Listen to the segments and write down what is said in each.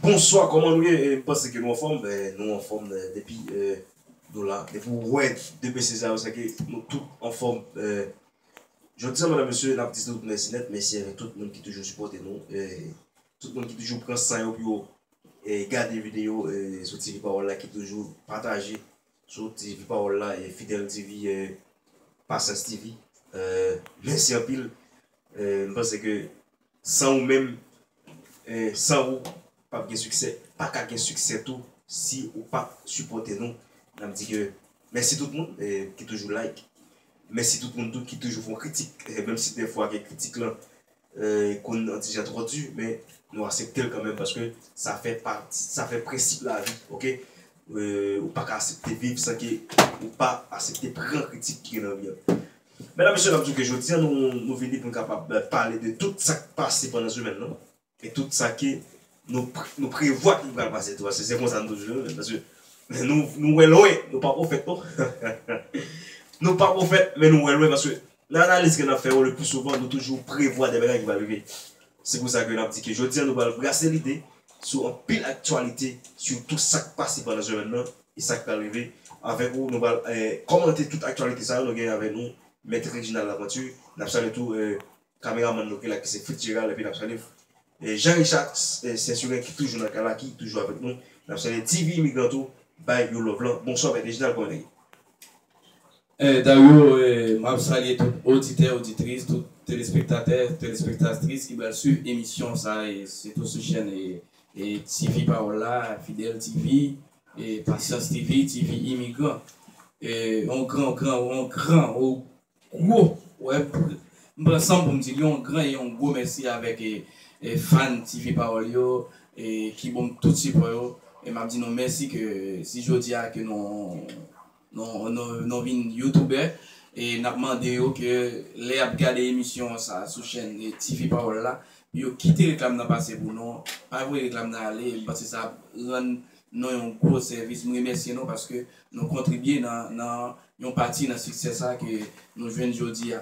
Bonswa kòman nou ye m panse ke nou anfòm nou anfòm depi nou la depi ou wè 2 mesye sa yo sèke nou tout anfòm jodi an medam mesye nap di tout mèsi nèt mèsi avèk tout moun ki toujou sipòte nou tout moun ki toujou pran san yo pou yo gade videyo sou TV Pawòl la ki toujou pataje Soti epi pawòl la e fidel TV e pasyans TV e mèsi anpil e m panse ke san ou menm e san ou pap gen siksè paka gen siksè tou si ou pa sipòte nou nap di ke mèsi tout moun e ki toujou like mèsi tout moun tou ki toujou fon kritik e menm si dèfwa gen kritik lan konn an ti jan twò di men nou aseptel kanmenm paske sa fè pati sa fè prensip lavi ok ou paka asepte viv san ke ou pa asepte pran kritik ki gen nan vi an mèdam mesye nap di ke jodi an nou vini poun kapab pale de tout sak pase pandan semèn lan e tout sa ke nou prevwa ki pral pase tou paske se konsa nou toujou jwenn paske nou wè lwen nou pa pwofèt non nou pa pwofèt men nou wè lwen paske Nan analiz ke n ap fè yo, lepli souvan nou toujou prevwa de bagay ki va rive. Se pou sa ke n ap di ke jodi an nou pral brase lide sou anpil aktyalite, sitou sa k pase pandan semèn nan e sa k pral rive. Avèk ou, nou pral kòmante tout aktyalite sa yo. Nou genyen avèk nou Mèt Reginald Laventure. N ap salye tou kameramann nou ki la ki se Fitzgerald epi n ap salye Jean Richard Censurien ki toujou nan kay la, ki toujou avèk nou. N ap salye TV Immigrant tou bay yon love lan. Bonswa Mèt Reginald, kòman nèg yo? Dario map salye tout oditè oditris tout telespektatè telespektatris ki pral swiv emisyon sa e sitou sou chèn TV pawòl la fidèl TV pasyans TV TV imigran yon gran gran yon gran yon gwo wè m pran sanm poum dil yon gran e yon gwo mèsi avèk fan TV pawòl yo ki bonm tout sipò yo e map di nou mèsi ke si jodia ke nou Nou vin youtubè e nap mande yo ke lè yap gade emisyon sa sou chèn TV pawòl la pou yo kite reklam nan pase pou nou pa voye reklam nan ale paske sa ap rann nou yon gwo sèvis m remèsye nou paske nou kontribye nan yon pati nan siksè sa ke nou jwenn jodi a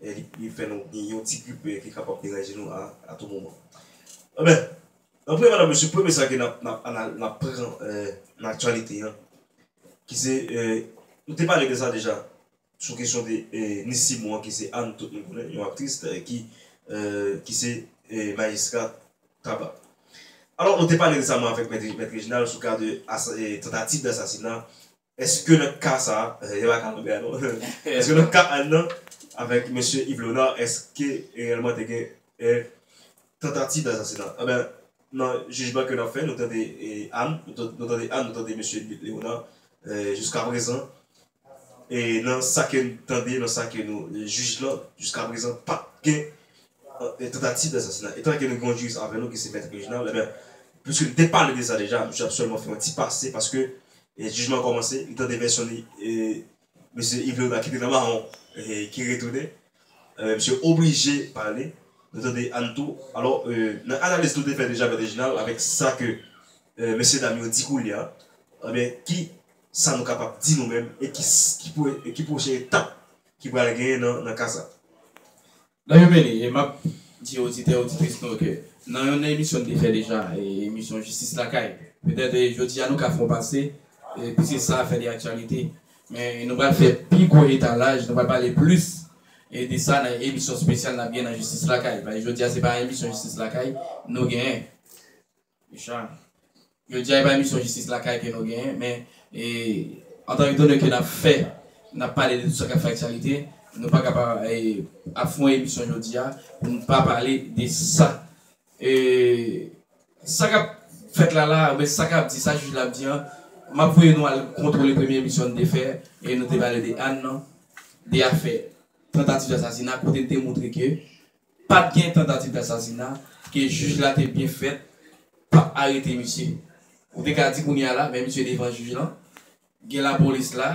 e li fè nou gen yon ti grip ki kapab deranje nou a tou moman. Enben, nan premye madan mesye, premye sa ke n ap pran nan aktyalite an, ki se, nou te pale de sa deja, sou kesyon de Ni Simon an ki se Ann tout moun konnen, yon aktris ki se majistra Taba. Alò, nou te pale resaman avèk Mèt Rejinal sou ka de tantativ dasasinat Eske nan ka sa a, paske se pa ka Lambert non, eske nan ka Anne nan avèk mesye Yves Leonard eske reyèlman te gen yon tantativ dasasinat? Anben, nan jijman ke n ap fè, nou tande Anne, nou tande Anne, nou tande mesye Leonard, jiskaprezan, e nan sa ke n tande, nan sa ke nou jij lan, jiskaprezan pa t gen tantativ dasasinay. Etan ke nou gen yon jiris avè nou ki se Mèt Reginald, enben, pwiske nou te pale de sa deja, misye ap sèlman fè yon ti pase paske jijman an kòmanse, li tande vèsyon li e mesye Ive Loda ki te nan mawon ki retounen, enben, misye oblije pale, nou tande Anne tou. Alò, nan analiz nou te fè deja Mèt Reginald avèk sa ke mesye dam yo di koulye a, enben, ki sa nou kapab di nou menm e ki pwochen etap ki pral genyen nan ka sa? Lè yo vini, e m ap di oditè oditris nou ke nan yon emisyon n te fè deja, emisyon Jistis Lakay, petèt jodi a nou ka fè yon pase, piske sa a fè li aktyalite, men nou pral fè pi gwo etalaj, nou pral pale plis de sa nan emisyon spesyal n ap gen nan Jistis Lakay, paske jodi a se pa emisyon Jistis Lakay nou genyen. Richard, Jodi a e pa emisyon jistis lakay ke nou genyen, men antan etan done ke n ap fè, n ap pale de tout sa k ap fè aktyalite, nou pa ka pa ap fon emisyon jodi a pou nou pa pale de sa. Sa k ap fèt la la, oubyen sa k ap di, sa jij la ap di an, m ap voye nou al kontwole premye emisyon n te fè e nou te pale de Anne nan, de afè tantativ asasina kote n te montre ke Pat gen tantativ dasasina ke jij la te byen fèt pat arete misye ou te ka di kounya la men misye devan jij lan gen lapolis la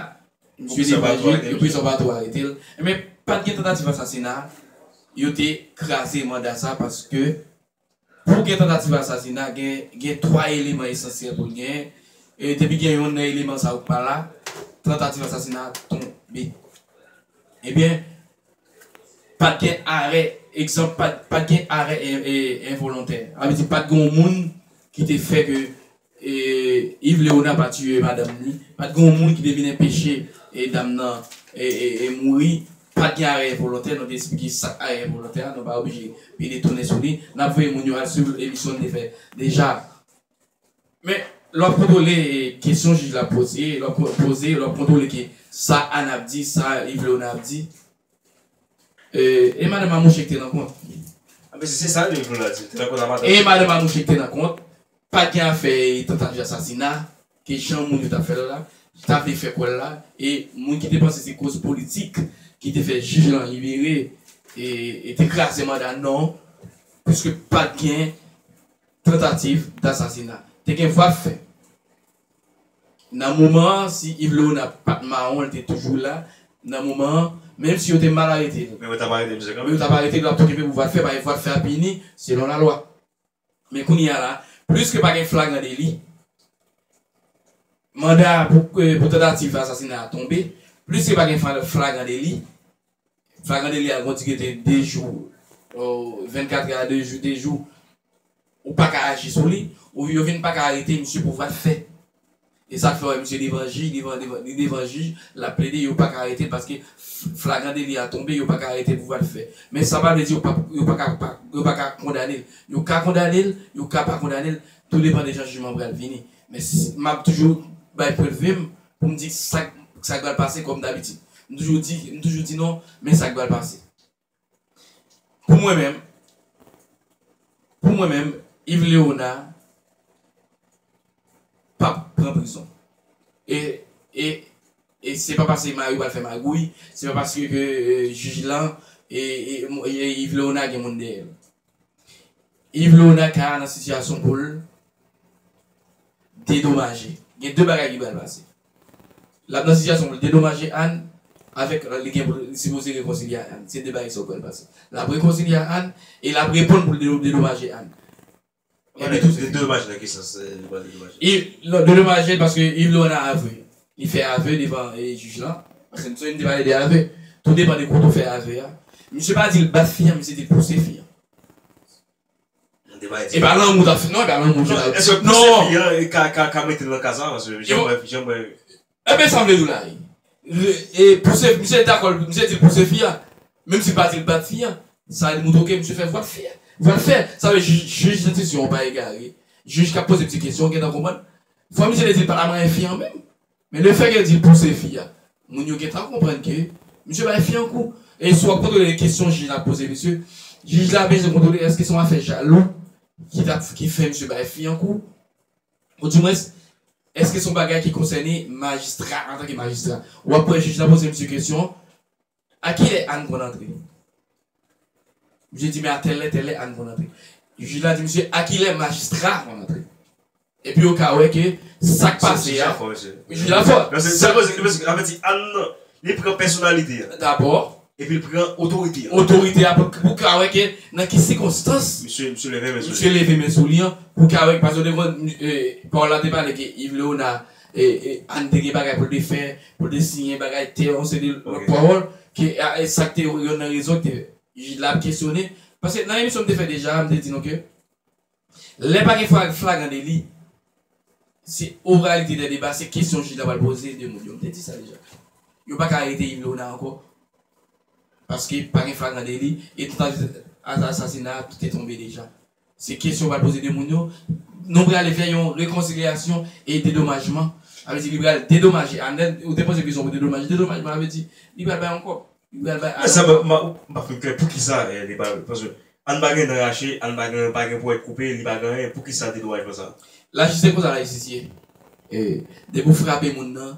misye devan jij yo pwofesè ou pa tou aretel men pat gen tantativ asasina yo te kraze manda sa paske Pou gen tantativ asasina gen gen 3 eleman esansyèl pou l genyen, e depi gen yonn nan eleman sa yo ki pa la, tantativ asasina a tonbe. Ebyen, pa t gen arè, egzanp, pa t gen arè envolontè. Sa vle di pa t gen yon moun ki te fè ke E Yves Léonard pa tiye madanm ni pat gen yon moun ki te vin enpeche e dam nan e mouri pat gen arè envolontè nou te esplike sak arè envolontè a nou pa oblije pede tounen sou li nap voye moun yo al swiv emisyon nou te fè deja men lè wap kontwole kesyon jij la ap poze lè wap poze lè wap kontwole ke sa Anne ap di sa Yves Léonard ap di e madanm Amouche ki te nan kont. Anben si se sa Yves Léonard di li te nan kont a madanm. E madanm Amouche ki te nan kont. Pa gen afè tentativ asasina ke jan moun yo ta fè l la, ta vle fè kwè l la e moun ki te panse se koz politik ki te fè jij lan libere e te kraze manda non, piske pa t gen tantativ dasasina. Te gen vwa fè. Nan moman an, si Iv Lewona pa t mawon, li te toujou la, nan moman an, menm si yo te mal arete l. Men yo t ap arete misye kanmèm. Men yo t ap arete l, yo ap tou kenbe pou vwa de fè, paske vwa de fè a pini selon lalwa. Men kounye a la, pliske pa gen flagran deli, manda pou tantativ asasina a tonbe, pliske pa gen flagran deli, flagran deli a gon di gete 2 jou, 24 è a 2 jou, 2 jou, ou pa ka aji sou li, yo vin pa ka arete misye pou vwat fè. E sak fè wè misye devan jij devan devan li devan jij lap plede yo paka aretel paske flagran deli a tonbe yo paka aretel pou val fè men sa pa vle di yo pap yo paka pa yo paka kondanel yo ka kondanel yo ka pa kondanel tou depan de jan jijman pral vini men map toujou bay pwend vim poum di sak sak pral pase kòm dabitid mtoujou di mtoujou di non men sak pral pase. Pou mwen menm, pou mwen menm, Yves Léonard pap pran prizon. E, e, e se pa pase Mario pral fè magouy, se pa paske ke jij lan, e, e, e Yves Léonard gen moun dèyè l. Yves Léonard ka nan sitiyasyon pou l dedomaje. Gen de bagay ki pral pase. Lap nan sitiyasyon poul dedomaje Anne avèk li gen pou li sipoze rekonsilye a Anne se 2 bagay sa ou kwèl pase lap rekonsilye a Anne e lap reponn poul dedomaje Anne epi tout se Dedomaje nan ki sans li pral dedomaje li non dedomaje paske Yves Laurent nan avwe li fè avwe devan jij lan paske nou te pale de avwe tou depan de kote ou fè avwe a misye pa dil bat fi an misye dil pouse fi an. Mwen te bay di. E pa lanmou tap fè non e pa lanmou ki tap. Eske pwosepi an e ka ka ka metel nan ka sa paske jan mwen jan mwen. Ebyen sam vle diw la wi. E pwosepi misye dakò misye dil pwosepi fi a menm sil pa dil bat fi a sa li moutre ke misye fè vwal fè vwal fè sa vle di jij lenstisyon an pa egare jij kap poze misye kesyon gentan konprann fò misye te dil paka manyen fi an menm Men le fè ke di l pouse fi a, moun yo gentan konprann ke misye bay fi an kou. E si w ap kontwole kesyon jij la ap poze misye, jij la bezwen kontwole èske se yon afè jalou ki t ap, ki fè misye bay fi an kou? Ou di mwens, èske se yon bagay ki konsène majistra antanke majistra? Ou ap wè jij la poze misye kesyon, A ki lè Anne konn antre? Misye di men a tèl lè tèl lè Anne konn antre. Jij la di misye a ki lè majistra a konn antre? Epi yo ka wè ke sa k pase a. Jij la fò. Sa vle di Anne li pran pèsonalite a. Dabò. Epi l pran otorite a. Otorite a pou w ka wè ke nan ki sikonstans. Misye leve men sou li. Misye leve men sou li an pou w ka wè. Paske w te konn Paola te pale ke Yves Léonard. Anne te gen bagay pou l te fè, pou l te siyen bagay tè, yon seri de lòt pawòl ke e sa k te yonn nan rezon ke jij la ap kesyone. Paske nan emisyon m te fè deja a, m te di nou ke lè pa gen flagran deli, se oralite dè deba, se kesyon jij la pral poze de moun yo. M te di sa deja. Yo pa ka arete Yves Léonard ankò paske pa gen flagran deli e tantativ asasina te tonbe deja. Se kesyon ou pral poze 2 moun yo. Nou prale fè yon rekonsilyasyon e dedomajman. Sa vle di li pral dedomaje Anèl. Ou te poze kesyon pou dedomaje. Dedomajman sa vle di li pral bay yon kòb. Li pral bay Anèl yon kòb. M pa fin klè. Poukisa li pral. Paske Ann pa gen dan rache, Ann pa gen, pa gen pwèt koupe, li pa gen anyen. Poukisa dedomajman sa? Lajis se konsa lajistis ye. Depi ou frape moun nan,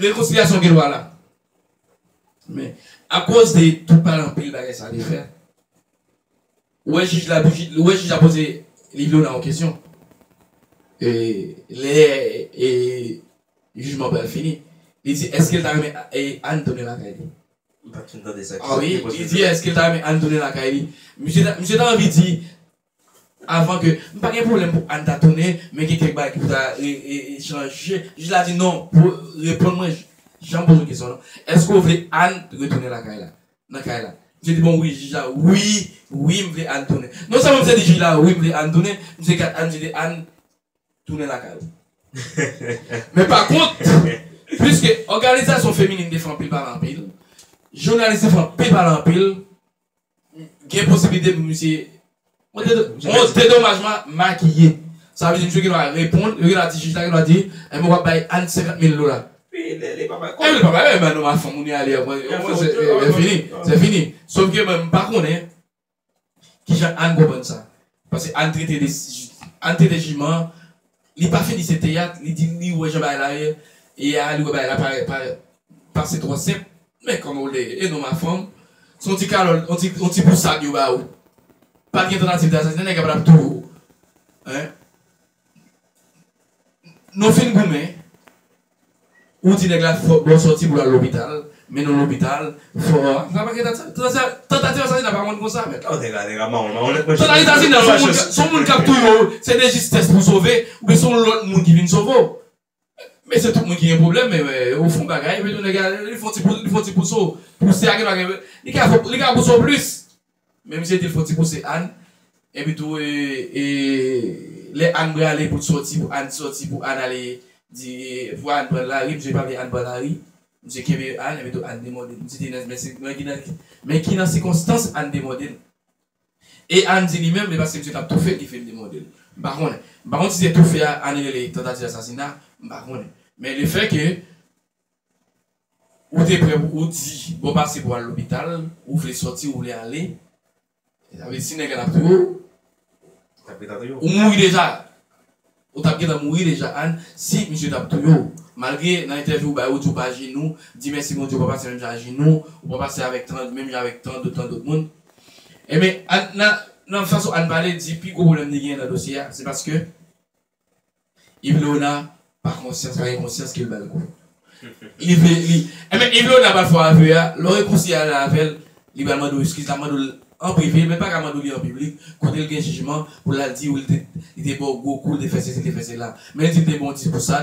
Rekonsilyasyon gen dwa la. Men, akoz de tout pale anpil bagay sa te fè, ou wè jij la bgy, ou wè jij la poze Livlona yon kesyon e lè e jijman pral fini, li di èske l ta renmen e Anne tounen lakay li? M pa t fin tande sa. Ki sa ki te poze l? Li di èske l ta renmen Anne tounen lakay li? Misye ta anvi di Avan ke, m pa gen pwoblèm pou Anne ta tounen, men gen kèk bagay ki pou ta chanje. Jij la di non, pou reponn mwen jan m poze w kesyon an non. Èske w vle Anne retounen lakay la, nan kay la? Misye di bon wi, jij la, wi, wi m vle Anne tounen. Non sèlman misye di jij la wi m vle Anne tounen, misye gad Anne misye di Anne, tounen lakay ou. Men pa kont, piske òganizasyon feminin te fè anpil pale anpil, jounalis te fè anpil pale anpil, Gen posibilite pou misye dedomajman makiye. Sa vle di misye gen dwa reponn, yo gen dwa di jij la gen dwa di, enben w ap bay Ann 50 mil dola. Epi lè li pa bay kòb. Epi li pa bay, enben nou ma fè moun nan ale. Se fini. Se fini. Sofke mwen m pa konnen kijan Ann konprann sa. Pase Anne trete de Anne trete jiman an li pa fini se teyat li di li wè jan bagay la ye ye a li wè bagay la pa pa pase twò senp men kòman w lèye e non ma fanm se yon ti kalòt yon ti yon ti pousad yo ba ou pa t gen tantativ dasasinay nèg la pa t ap touye w hein nou fin goumen Ou di nèg la fò bon sòti pou lal lopital men nou lopital fò sa pa gen tantativ asasina pa konn konsa mèt la. Nèg la nèg la mawon mawon nèt mwen chèf mwen chèf mwen chèf. Tantativ asasina son moun kap touye w se de jistès pou sove ou byen son lòt moun ki vin sove w mesye tout moun ki gen pwoblèm men ou fon bagay epi tou nèg la li fon ti li fon ti pousse w pouse a genwa gen li ka pouse w plis. Men misye dil fon ti pouse Anne epi tou lè Anne brale poul t soti pou Anne t soti pou Anne ale di pou Anne pran lari misye pa vle Anne pran lari misye kenbe Anne epi tou Anne te mòdel misye te nan men ki nan sikonstans Anne te mòdel e Anne di li menm e paske misye tap toufel ki fèl te mòdel m pa konnen m pa konn si se toufe a Anne rele tantativ asasina m pa konnen men le fè ke Ou te prè pou ou di bon pase pou al lopital ou vle sòti ou vle ale sa vle di si nèg la tap touye ou ou tap gentan touye ou mouri deja ou tap gentan mouri deja Ann si misye tap touye ou malgre nan entèvyou ou bay ou di ou pa ajenou di mèsi Bondye ou pa pase menm jan ajenou ou pa pase avèk tan menm jan avèk tan dot tandot moun enben Ann nan nan fason Ann pale di pi gwo pwoblèm li genyen nan dosye a se paske. Yves Leonard pa konsyans pa gen konsyans kel bal kou li vle li enben Yves Leonard pa fò avè a lè w rekonsilye ala avèl li pral mande w eskiz lap mande w l an prive men l paka mande w li an piblik kote l gen jijman pou lal di w li te li te ba w gwo kou li te fè sesi li te fè sela men l di l te ba w 10 pou sa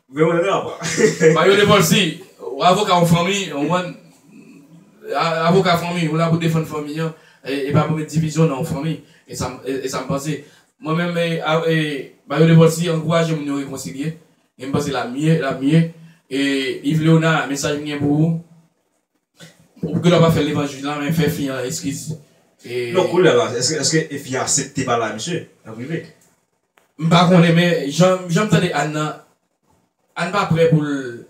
Mwen wè rap a. Mario Lepòl si ou avoka yon fanmi, ou konprann, avoka fanmi, ou la pou defann fanmi an, e pa pou met divizyon nan yon fanmi, e sa m, e sa m panse. Mwen menm, e Mario Lepòl si ankouraje moun yo rekonsilye, e m panse l ap mye, l ap mye. E Iv Leona, mesaj m gen pou ou, ou gen dwa pa fè l devan jij lan, men fè fi an eskiz. Non, koulè la, èske fi a asepte pale a misye an prive? M pa konnen men jan m tande Anne nan Anne pa prè pou l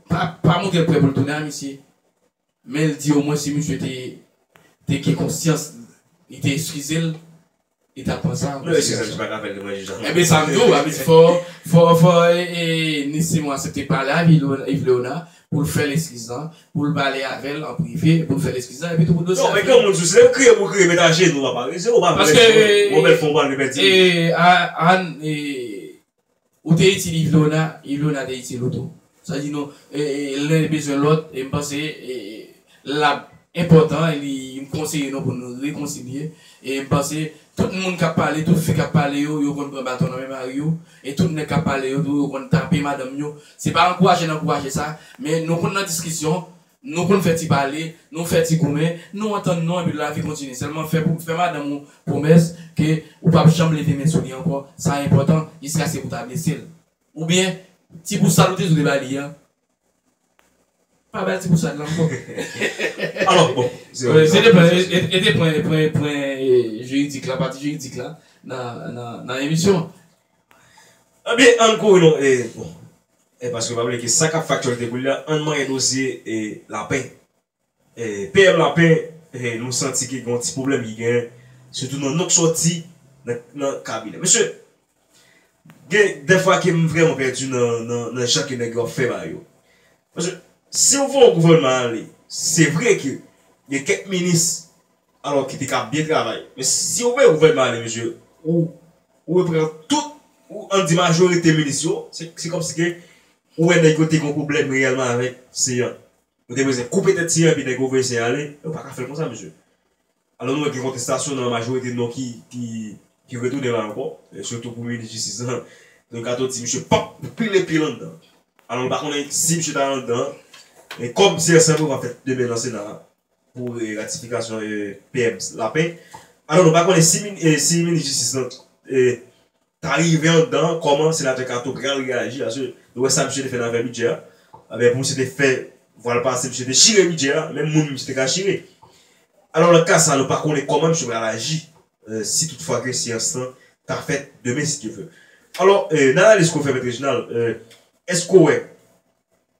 pa montre l prè pou l tounen a misye men l di omwen si misye te gen konsyans li te eskize l li tap pran sa anko si misye paka fè l manje jan Anne vle a. Fò Nissimo asepte pale ak Yvleona pou l fè l eskiz lan, pou l pale avè l an prive, pou l fè l eskiz lan, epitou pou dosye a fini. Non, men granmoun sou, se lè l kriye pou l kriye, met ajenou a pare, se ou pa vle di non, wè w bèl fon pale, pèdi moun. Paske, Ann, ou te itil Yvlona, Yvlona te itil ou tou. Sa di nou, lè l bezwen lòt, e m panse, L ap enpòtan e li m konseye nou pou n rekonsilye e m panse tout moun k ap pale, tout fi k ap pale yo, yo konn pran baton nan men mari yo e tout nèg k ap pale yo tou yo konn tape madanm yo. Se pa ankouraje n ankouraje sa, men nou konn nan diskisyon, nou konn fè ti pale, nou fè ti goumen, nou antann nou epi lavi kontinye. Sèlman fè pou fè madanm ou pwomès ke ou p ap janm leve men sou li ankò, sa enpòtan, jiskaske pou ta blese l. Oubyen ti pou sal ou te di w te ba li an, Pa bay ti bousad lan anko. Alò bon. Se te pran e te pran pran pran jiridik la pati jiridik la nan nan nan emisyon an. Ebyen ann kouri non e bon. E paske pa bliye ke sa kap faktyèlte koulya ann manyen dosye e lapè. PM Lapin nou santi ke gen yon ti pwoblèm ki genyen sitou nan non k sòti nan kabinè misye. Gen dèfwa ke m vrèman pèdi nan jan ke nèg yo ap fè bagay yo. Paske si ou vè yon gouvènman ale, se vre ke gen kèk minis alò ki te ka byen travay. Men si ou vè yon gouvènman ale misye, ou we pran tout, an di majorite minis yo, se kòmsi ke ou wè nèg yo te gen yon pwoblèm reyèlman avèk Céant. Yo te bezwen koupe tèt Siyen epi nèg yo voye Siyen ale. Yo pa ka fè l konsa, mesye. Alò nou wè gen kontestasyon nan majorite non ki retounen la ankò, sitou pou minis jistis la. Don Kato di misye p ap pile pye landan. Alò nou pa konnen si misye ta anndan e kòm Siyen Sanbre va fèt demen nan Sena a pou ratifikasyon PM Lapin. Alò nou pa konnen si minis jistis la ta rive anndan kòman Senatè Kato pral reyaji paske nou wè sa misye te fè nan afè bidjè a ebyen pou misye te fè vwa l pase misye te chire bidjè a menm moun misye te ka chire alò nan ka sa nou pa konnen kòman misye pral aji si tout fwa ke seyans lan ta fèt demen si Dye vle alò nan analiz ke w fè Mèt Rejinal èske w wè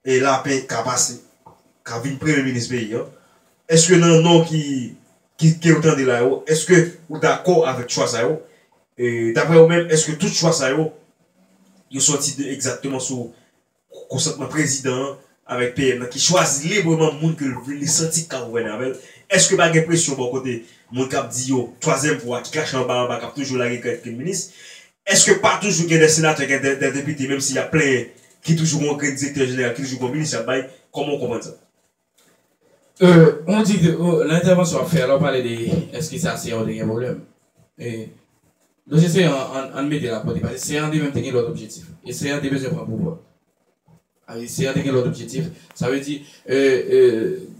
e lapè ka pase, ka vin premye minis peyi an, eske nan non ki ke ou tande la yo, eske ou dakò avèk chwa sa yo? E daprè ou menm, eske tout chwa sa yo, yo sòti de egzatteman sou konsantman prezidan an avèk PM nan ki chwazi libreman moun ke l vle, li santi ki ka gouvène avè l? Eske pa gen presyon bò kote moun k ap di yo twazyèm pou a ki kache anba anba k ap toujou lage kèk minis? Eske pa toujou gen de senatè gen de depite menm si yap plenyen ki toujou gen yon grenn direktè jeneral ki toujou gen yon minis yap bay kòman ou konprann sa? Euh ou di ke nan entèvansyon wap fè a la ou pale de eske sa seyan ou te gen pwoblèm e dosye seyan an ann mete l a kote paske seyan an te menm te gen lòt objektif e seyan an te bezwen pran pouvwa. Ayisyen an te gen lòt objektif. Sa vle di,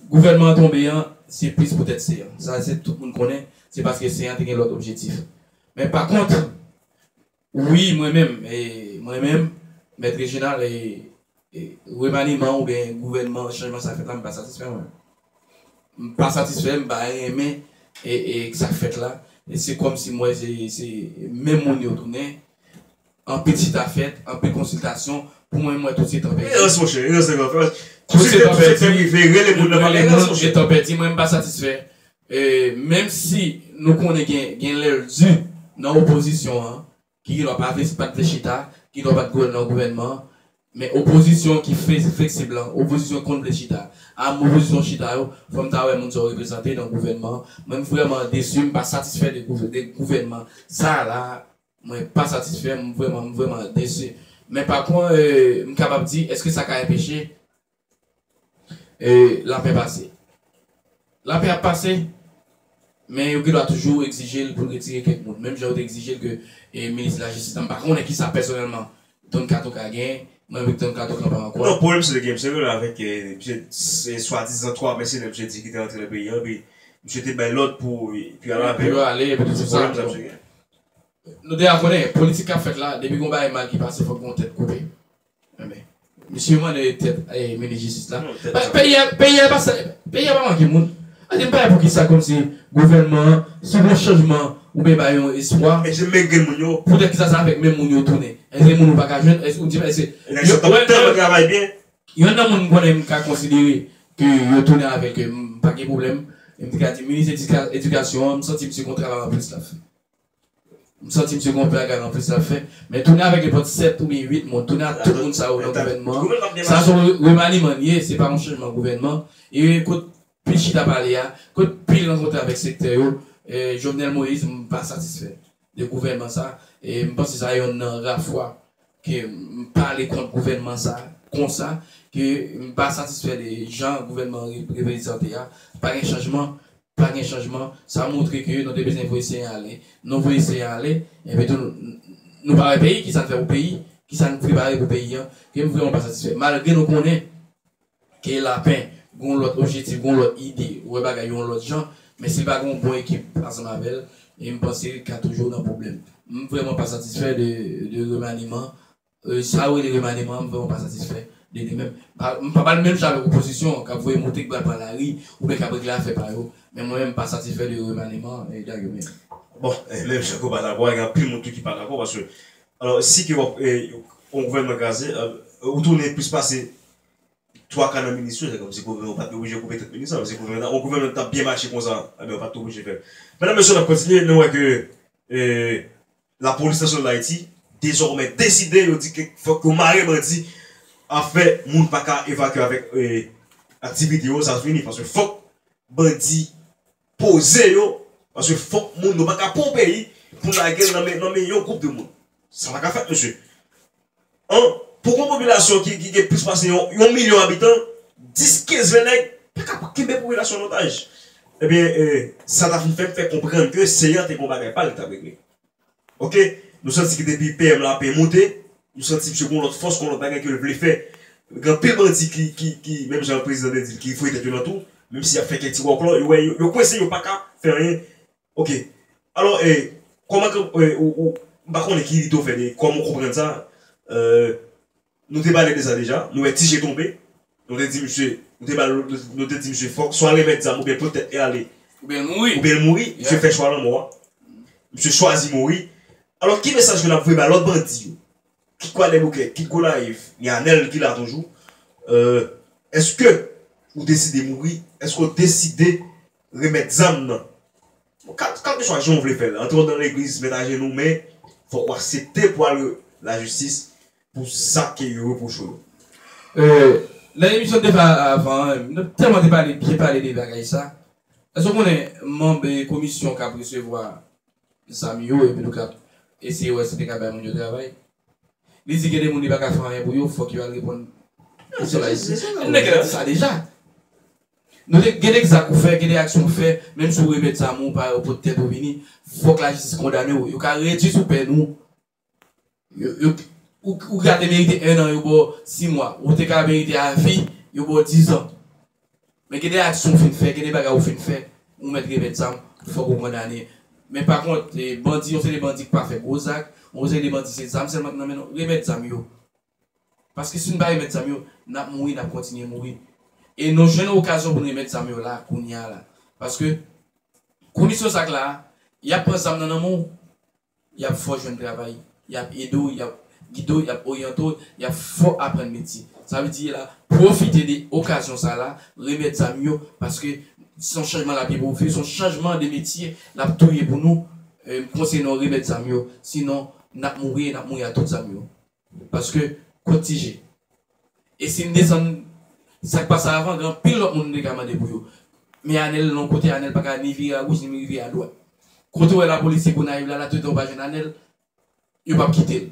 gouvènman an tonbe an, se plis poutèt se an. Sa se tout moun konnen, se paske se an te gen lòt objektif. Men pa kont, wi mwen menm, mwen menm, Mèt Rejinal, remaniman oubyen gouvènman, chanjman sa fèt la, m pa satisfè mwen. Mpa satisfè, mpa renmen sak fèt la, se kòmsi mwè se menm moun yo tounen, anpil chita fèt, anpil konsiltasyon, pou mwen mwè tout se tan pèdi. Erans monchè, erans nan gran fas, tout se tan pèdi, rele moun nan pa gen erans monchè. Etan pèdi mwen mpa satisfè, menmsi nou konnen gen lèl di nan opozisyon an, ki gen dwa pa vle pa t vle chita, ki gen dwa pa t vle nan gouvènman an, men opozisyon ki fleksib lan, opozisyon ki konn vle chita a, m opozisyon chita yo, fò m ta wè moun sa yo reprezante nan gouvènman an. Mwen m vrèman desu, m pa satisfè de gouvènman sa a la a, mwen pa satisfè, m vrèman, m vrèman desu. Men pa kont, m kapab di, èske sa ka enpeche E lapè pase. Lapè ap pase, men yo gen dwa toujou egzije l pou l retire kèk moun. Menm jan yo te egzije l ke minis lajistis la, m pa konnen kisa pèsonèlman Don Kato ka gen, mwen avèk Don Kato kanpe an kwa. Non, pwoblèm misye te gen, misye rele avèk misye swadizan 3 mèsenè misye di ki te rantre nan peyi an, epi misye te bay lòd pou yo al avè yo. Se pwoblèm sa misye gen. Nou deja konnen, politik k ap fèt la, depi gen yon bagay mal ki pase fòk gen yon tèt koupe. Misye mande tèt minis jistis la. Peyi a pa manke moun. An di m pa wè poukisa kòmsi gouvènman an, si w wè chanjman ou byen bay yon espwa. Èske menm gen moun yo? Poutèt kisa sa avèk menm moun yo tounen? Èske gen moun ou pa ka jwenn? Èske ou di m èske. Nèg sa t ap tèlman travay byen. Yonn nan moun m konnen m ka konsidere ke yo tounen avèk m pa gen pwoblèm. M te ka di minis edikasyon an, m santi misye gon travay anplis l ap fè. M santi msye gon bagay an plis lap fè. Men tounen avèk nenpòt 7 oubyen 8 moun, tounen ak tout moun sa yo nan gouvènman an, sa son remaniman li ye, se pa yon chanjman gouvènman. E kot pil chita pale a, kot pil rankontre avèk sektè yo, Jovenel Moïse m pa satisfè de gouvènman sa, e m panse sa yonn nan ra fwa ke m pa ale kont gouvènman sa a konsa, ke m pa satisfè de jan gouvènman an reprezante a, pa gen chanjman, pa gen chanjman, sa montre ke nou te bezwen voye Senyè a ale, nou voye Senyè a ale, epi tou nou pa wè peyi, kisa n fè pou peyi, kisa n prepare pou peyi an, ke m vrèman pa satisfè, malgre nou konnen Ke Lapen gen yon lòt objetif, gen yon lòt ide, wè bagay yo yon lòt jan, men si l pa gen yon bon ekip ansanm avè l, e m panse li ka toujou nan pwoblèm. M vrèman pa satisfè de remaniman, sa yo rele remaniman an, m vrèman pa satisfè de li menm. M pa ba l menm jan avèk opozisyon an k ap voye moute, k pral pran lari, oubyen k ap regle afè pa yo, men mwen menm m pa satisfè de remaniman Dagobè a. Bon, menm jan ke w pa dakò a, gen anpil moun tou ki pa dakò, paske, alò, si ke w ap, yon gouvènman kraze, ou tounen plis pase twaka nan minis yo se kòm si gouvènman an pat oblije koupe tèt minis lan, si gouvènman an yon gouvènman ki tap byen mache konsa ebyen yo pat oblije fèl. Medam mesye nap kontinye nou wè ke la polis nasyonal dayiti dezòmè deside yo di ke fòk yo mare bandi afè moun paka evakye avèk aktivite yo sa fini paske fòk bandi poze yo paske fok moun yo paka pran yon peyi pou lagel nan men yon group de moun sa paka fèt mesye an pou gon popilasyon ki gen plis pase yon milyon abitan 10 15 20 nèg paka kenbe popilasyon an otaj ebyen sa ta fè m fè konprann ke seyan te gon bagay pal li tap regle Ok Nou santi ke depi PM la ape moute Nou santi misye gon lòt fòs gon lòt bagay kel vle fè Gen anpil bandi ki menm jan prezidan te dil ki voye tèt yo nan tou Menm si yap fè kèk ti wòklò yo wè yo kwense yo paka fè anyen Ok Alò Kòman ke ou ou m pa konnen ki ide ou fè de kòman ou konprann sa euh. Nou te pale de sa deja, nou wè Tije tonbe, nou te di misye, nou te bal nou te di misye fòk swa remèt zam oubyen pot tèt e ale, Oubyen l mouri. oubyen l mouri, misye fè chwa lanmò a, misye chwazi mouri. Alò ki mesaj ke n ap voye bay lòt bandi yo, kit Kwadèboukè, kit Gonayiv, gen Anèl ki la toujou, èske ou deside mouri, èske ou deside remèt zam nan? Kalkeswa jan ou vle fè l, antre w nan legliz, mèt ajenou men fòk ou asepte pou al lajistis, pou sa ke yo repwoche w. Nan emisyon defa avan an, nou tèlman te pale byen pale de bagay sa. Èske w konnen manb komisyon k ap resevwa zam yo epitou k ap eseye wè si te ka bay moun yo travay? Li di gen de moun li pa ka fè anyen pou yo, fòk yo al reponn nan sòl Ayiti. Nèg la te di sa deja. Nou te gen de zak ou fè, gen de aksyon ou fè, menm si w remèt zam ou, pa ou pot tèt ou vini, fòk lajistis kondane w. Yo ka redui sou pèn ou Ou ka te merite 1 an yo baw 6 mwa, ou te ka merite a vi yo baw 10 ans. Men gen de aksyon ou fin fè, gen de bagay ou fin fè, ou mèt revèt zam, fòk ou kondane. Men pa kont bandi yon seri bandi ki pa fè gwo zak, yon seri de bandi se zam sèlman ki nan men nou, remèt zam yo. Paske si nou pa remèt zam yo, nap mouri, nap kontinye mouri. E nou jwenn okazyon pou nou remèt zam yo la, kounya la. Paske kondisyon zak la, yap pran zam nan nan men w, Y ap fè w jwenn travay, y ap ede w, y ap gide w, y ap oryante w, y ap fè w aprann metye. Sa vle di la, pwofite de okazyon sa la, remèt zam yo, paske se yon chanjman l ap ye pou w viv, se yon chanjman de metye l ap tou ye pou nou. M konseye nou remèt zam yo, sinon n ap mouri e n ap mouri ak tout zam yo. Paske kot ti je. E si n desann sak pase avan gen anpil lòt moun nou te ka mande pou yo. Men Anel non kote Anel pa ka ni vire a goch ni vire a dwat. Kote w wè lapolis se Gonayiv la la toutan yo pa jwenn Anel yo pap kite l.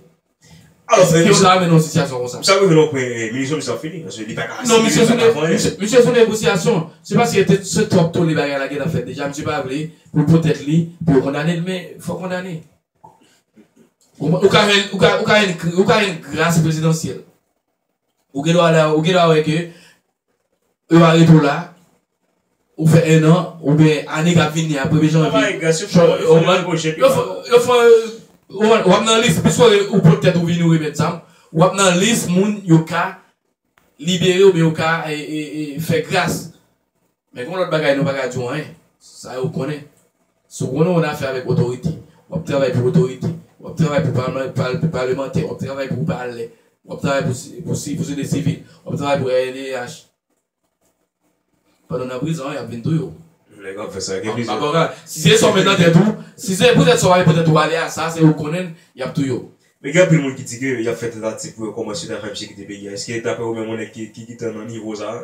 Alò frè misye. Eske yo ta mennen yon sitiyasyon konsa. Misye ap rive nan yon pwen e minisyon misye ap fini. Paske li pa ka asimile li pa ka fè anyen. Non misye sou negosyasyon. Se paske se twòp tole bagay la gentan fèt deja misye pa vle pou l po tèt li pou yo kondane l men fòk kondane. Ou ka jwenn gras prezidansyèl. Ou gen dwa wè ke yo va rete w la, ou fè 1 an, oubyen ane kap vini a premye janvye. Yo bay gras, yo fè yon nouvo jèt. Yo fè, yo fè, w ap nan lis, pwiske ou pot tèt ou vini ou remèt zam, w ap nan lis moun yo ka libere oubyen yo ka fè gras. Men gen yon lòt bagay nou pa ka di w anyen, sa yo konnen. Si w konnen w an afè avèk otorite, w ap travay pou otorite, w ap travay pou palemantè, w ap travay pou palè, w ap travay pou sosyete sivil, w ap travay pou rnddh, pandan w nan prizon an y ap vin touye w. Nèg ap fè sa, gen plizyè. Mpa konprann. Si se sa w met nan tèt ou, si se poutèt sa w pa vle pou tèt ou ale a, sa se ou konnen l, y ap touye w. Men gen anpil moun ki di ke y ap fè tantativ pou yo kòmanse travay pou sekirite peyi a. Eske daprè ou menm yon nèg ki gentan nan nivo sa a,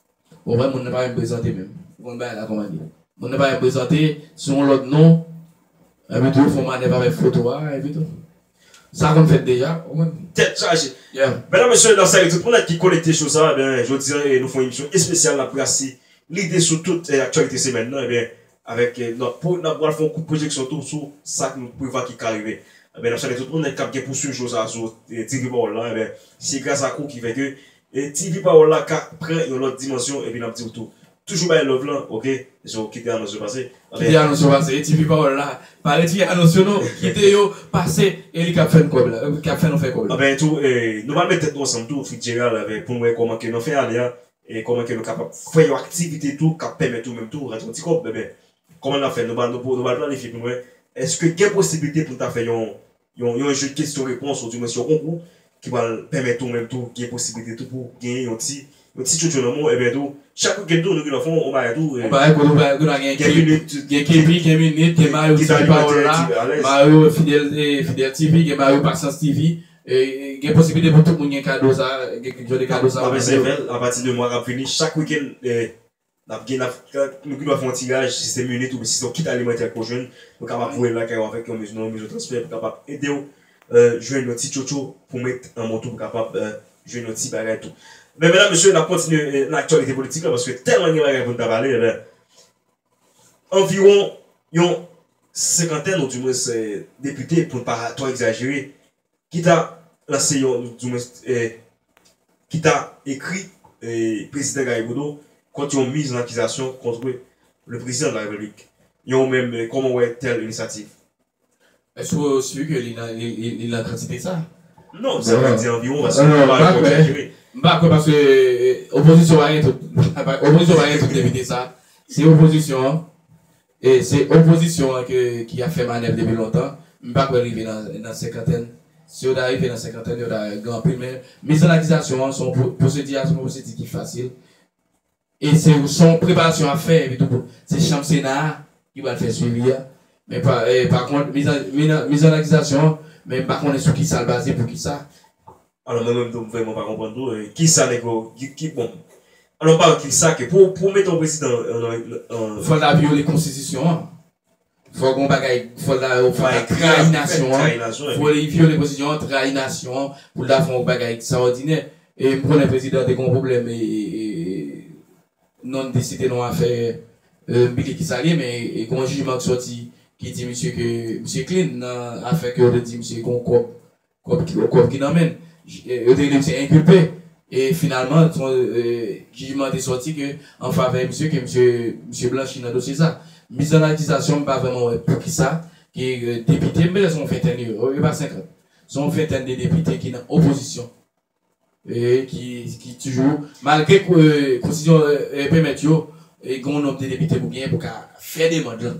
Ou wè moun nan pa menm prezante menm. Ou konn bagay la kòman l ye. Moun nan pa menm prezante, se yon lòt non. Epi tou yo fè yon manèv avèk foto a epi tou. Sa konn fèt deja, ou konprann. Tèt chaje. Medam, mesye, nan sali tout moun ak ki konekte sou sa, ebyen, jodi a nou fè yon emisyon espesyal n ap brase lide sou tout aktyalite semèn nan, ebyen, avèk n ap n ap pral fè yon kout pwojeksyon tou sou sa nou prevwa ki ka rive. Ebyen, n ap salye tout moun k ap gen pou suiv show sa a sou TV Pawòl la, ebyen, se gras ak ou ki fè ke E TV pawòl la ka pran yon lòt dimansyon epi nap diw tou toujou bay love lan ok so kite anons yo pase anben. Kite anons yo pase e TV pawòl la pa retire anons yo non kite yo pase e li kap fè n kòb la li kap fè nou fè kòb la. Anben tou nou pral met tèt nou ansanm tou Fitzgerald avè poun wè kòman ke nan fen ane a e kòman ke nou kapab fè yon aktivite tou kap pèmèt ou menm tou rantre yon ti kòb anben kòman nap fè nou pral planifye poun wè èske gen posibilite poun ta fè yon Yon jou de kesyon repons ou di mwen se yon konkou ki pral pèmèt ou menm tou gen posiblite tou pou genyen yon ti yon ti tchotcho nan men w enben tou chak weekend tou nou gen nan fon yon bagay tou yon bagay kote ou kote a gen gen minit gen kepi gen minit gen mario ti pawòl la mario fidèl fidèl tv gen mario pasyans tv gen posiblite pou tout moun gen kado sa gen jan de kado sa map eseye fè l apati de mwa kap vini chak weekend Nap gen nap nou gendwa fè yon tiraj si se minit oubyen si se yon kit alimantè ke w jwenn nou kapab voye l lakay ou avèk yon mezi nan yon mezi transfè pou kapab ede w jwenn yon ti tchotcho pou met an men w tou pou kapab jwenn yon ti bagay tou. Men medam mesye nap kontinye nan aktyalite politik la paske tèlman gen bagay pou n ta pale ebyen anviwon yon senkantèn ou dimwens depite pou n pa twò egzajere Ki ta lanse yon, di mwens, ki ta ekri Prezidan Garrigodo kont yon miz an akizasyon kontre le Prezidan de la Repiblik. Yon ou menm, kòman ou wè tèl inisyativ? Èske ou si ke li nan, li nan kantite sa? Non, sa vle di anviwon paske nou pa anko egzajere. M pa kwè paske opozisyon pa gen tout, opozisyon pa gen tout depite sa. Se opozisyon an, E se opozisyon an ke ki ap fè manèv depi lontan. M pa kwè rive nan nan senkantèn. Si yo ta rive nan senkantèn yo ta gen anpil men miz an akizasyon an se yon pwosedi a se yon pwosedi ki fasil e se se yon preparasyon y ap fè epi tou se chanm sena a ki pral fè swivi a men pa pa kont miz an miz an akizasyon an men m pa konnen sou kisa l baze poukisa Alò mwen menm tou m vrèman pa konprann tou kisa nèg yo ki bon alò m pa wè kisa ke pou pou mete yon prezidan nan. Fòl ta vyole konstitisyon an fò gon bagay fòl ta yo fòl ta trayi nasyon an fò li vyole konstitisyon an trayi nasyon an pou l ta fè yon bagay ekstraòdinè e m konnen prezidan te gen yon pwoblèm e non n te site non afè m bliye kisa l ye men gen yon jijman k sòti ki di misye ke misye klin nan afè ke yo te di misye gen yon kòb Kòb ki kòb ki nan men l. Yo te rele misye enkulpe e finalman jijman te sòti ke an favè misye ke misye blanchi nan dosye sa. Mis an akizasyon m pa vrèman wè poukisa ke depite, m pètèt se yon fentèn yo yo pa 50, se yon fentèn de depite ki nan opozisyon ki toujou malgre konstitisyon pèmèt yo gen yon nonb de depite pou genyen pou ka fè demand lan.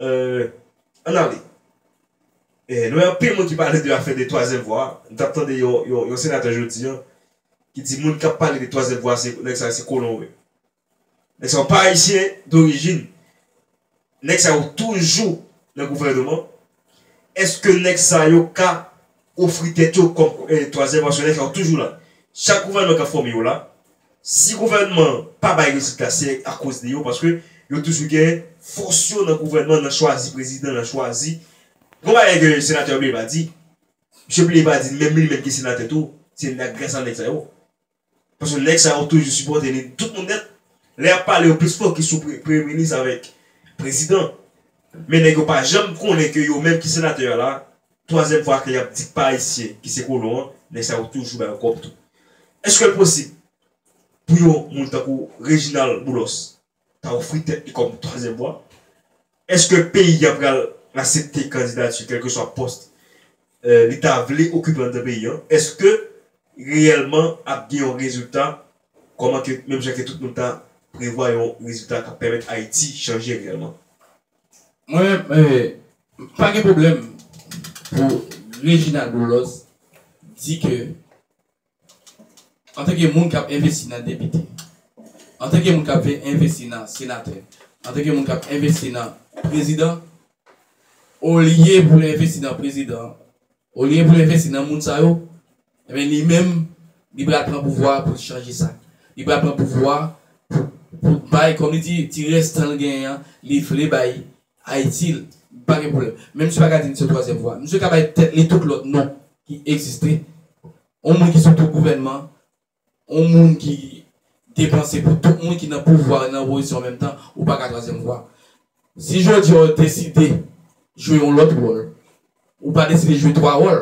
Ann ale. Nou wè anpil moun ki pale de afè de twazyèm vwa. M t ap tande yon senatè jodi an ki di moun k ap pale de twazyèm vwa se nèg sa yo se kolon yo ye. Nèg sa yo pa ayisyen dorijin. Nèg sa yo toujou nan gouvènman. Èske nèg sa yo ka Ofri tèt yo kòm twazyèm aksyonè sa yo toujou la. Chak gouvènman k ap fòme yo la. Si gouvènman an pa bay rezilta se akoz de yo paske yo toujou gen fòs yo nan gouvènman nan chwazi prezidan nan chwazi Gon bagay ke senatè Blay pa di Misye Blay pa di menm li menm ki senatè tou se grasa nèg sa yo Paske nèg sa yo toujou sipòte li tout moun nèt. Lè yap pale yo plis fokis sou premye minis avèk prezidan. Men nèg yo pa janm konnen ke yo menm ki senatè a la, twazyèm fwa ke yap di k pa ayisyen ki se kolon an, nèg sa yo toujou ba yo kòb tou. Eske l posib pou yon moun tankou Reginald Boulos ta ofri tèt li kòm twazyèm vwa? Eske peyi a pral asepte kandidati kèlkeswa pòs li ta vle okipe anndan peyi an? Eske reyèlman ap gen yon rezilta kòman ke menm jan ke tout moun ta prevwa yon rezilta kap pèmèt Ayiti chanje reyèlman? Mwen pa gen pwoblèm pou Reginald Boulos di ke Antanke moun k ap envesti nan depite, antanke moun k ap vle envesti nan senatè, antanke moun k ap envesti nan prezidan, olye pou l envesti nan prezidan an, olye pou l envesti nan moun sa yo, enben li menm li pral pran pouvwa a pou l chanje sa. Li pral pran pouvwa a pou l bay, kòm li di, ti rès tan l genyen an, li vle bay Ayiti, l pa gen pwoblèm. Men misye pa ka di li se twazyèm vwa. Misye ka bay tèt li tout lòt non ki egziste. Yon moun ki sou tou gouvènman, yon moun ki depanse pou tout moun ki nan pouvwa e nan opozisyon an menm tan, ou pa ka twazyèm vwa. Si jodi a w deside jwe yon lòt wòl, ou pa deside jwe twa wòl,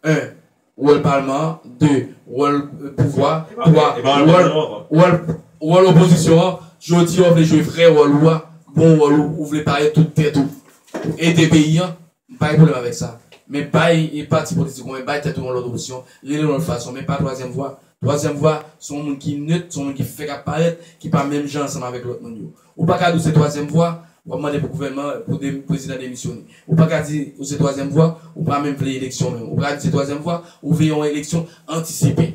1, Wòl palman an 2, Wòl pouvwa 3, Wòl Wòl opozisyon an Jodi a ou vle jwe vrè wòl ou a bon wòl ou ou vle pare tout tèt ou pou ede peyi an m pa gen pwoblèm avèk sa men bay pati politik ou an bay tèt ou yon lòt opsyon rele yon lòt fason men pa twazyèm vwa twazyèm vwa se yon moun ki nèt se yon moun ki fèk ap parèt ki pa menm jan ansanm avèk lòt moun yo Ou pa ka di ou se twazyèm vwa, w ap mande pou gouvènman, pou prezidan demisyone. Ou pa ka di ou se twazyèm vwa, ou pa menm vle eleksyon menm. Ou pa ka di ou se twazyèm vwa, ou vle yon eleksyon antisipe.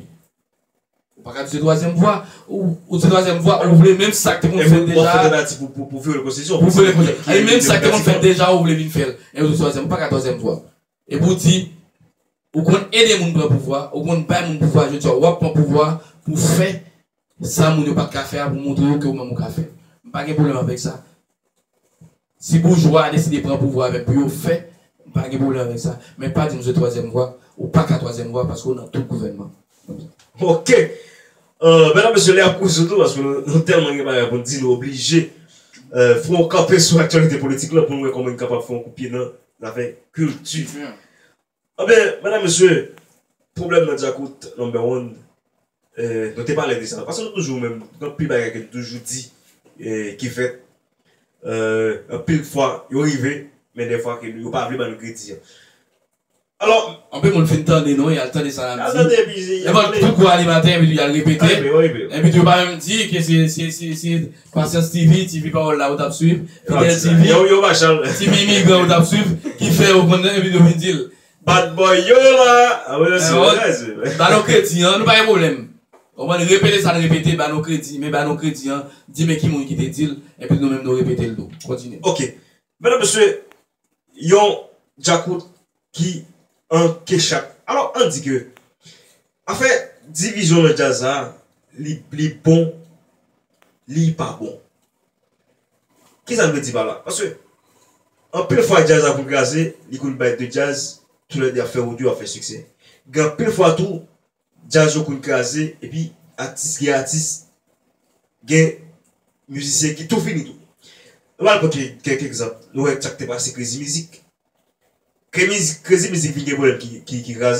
Ou pa ka di ou se twazyèm vwa, ou se twazyèm vwa, ou vle menm sa k te konn fèt deja a. Pou vyole konstitisyon. Pou vyole konstitisyon. E menm sa k te konn fèt deja a ou vle vin fè l. E ou di ou se twazyèm vwa. Ou pa ka twazyèm vwa. E pou w di ou konn ede moun pran pouvwa, ou konn bay moun pouvwa, jodi a w ap pran pouvwa pou fè sa moun yo pat ka fè a pou montre yo ke ou menm ou ka fè. M pa gen pwoblèm avèk sa. Si boujwa a deside pran pouvwa a menm pou yo fè, m pa gen pwoblèm avèk sa. Men pa di m se twazyèm vwa. Ou pa ka twazyèm vwa paske ou nan tout gouvènman. Ok! Medam mesye, lè a kouri sou nou paske nou tèlman gen bagay pou n di nou oblije fè yon kanpe sou aktyalite politik lan pou n wè kòman n kapab fè yon kout pye nan zafè kilti. Anben, medam, mesye, pwoblèm nan Djakout Number One, nou te pale de sa. Paske nou toujou menm, gen anpil bagay ke nou toujou di ki fèt. Anpil fwa, yo rive, men dèfwa ke yo pa vle ba nou kredi an. Alò. Anpil moun fin tande nou, y al tande sa n ap di. Y al tande epi. Nenpòt kou kou animatè epi tou y al repete. Yo repete. Epi tou yo pa menm di ke se. Konsyans TV, TV pawòl la ou tap swiv, Fidèl TV, TV imigran ou tap swiv ki fè ou konn epi ou vin di l. Bad boy yo la! Ba nou kredi an, nou pa gen pwoblèm. Ou konprann, repete sa n repete, ba nou kredi, men ba nou kredi an, di men ki moun ki te di l, epi nou menm nou repete l tou. Kontinye. Ok. Medam mesye, yon djakout ki an kechat alò an di ke afè divizyon nan djaz la li li bon li pa bon kisa n vle di pa la paske anpil fwa djaz la pou l kraze li konn bay de djaz tou lè de ap fè wout yo ap fè siksè gen anpil fwa tou Djaz yo konn kraze epi atis gen atis gen mizisyen ki tou fini tou. Nou pral pote kèk egzanp nou wè sak te pase krezi mizik. Krezi mizik vin gen pwoblèm ki kraze.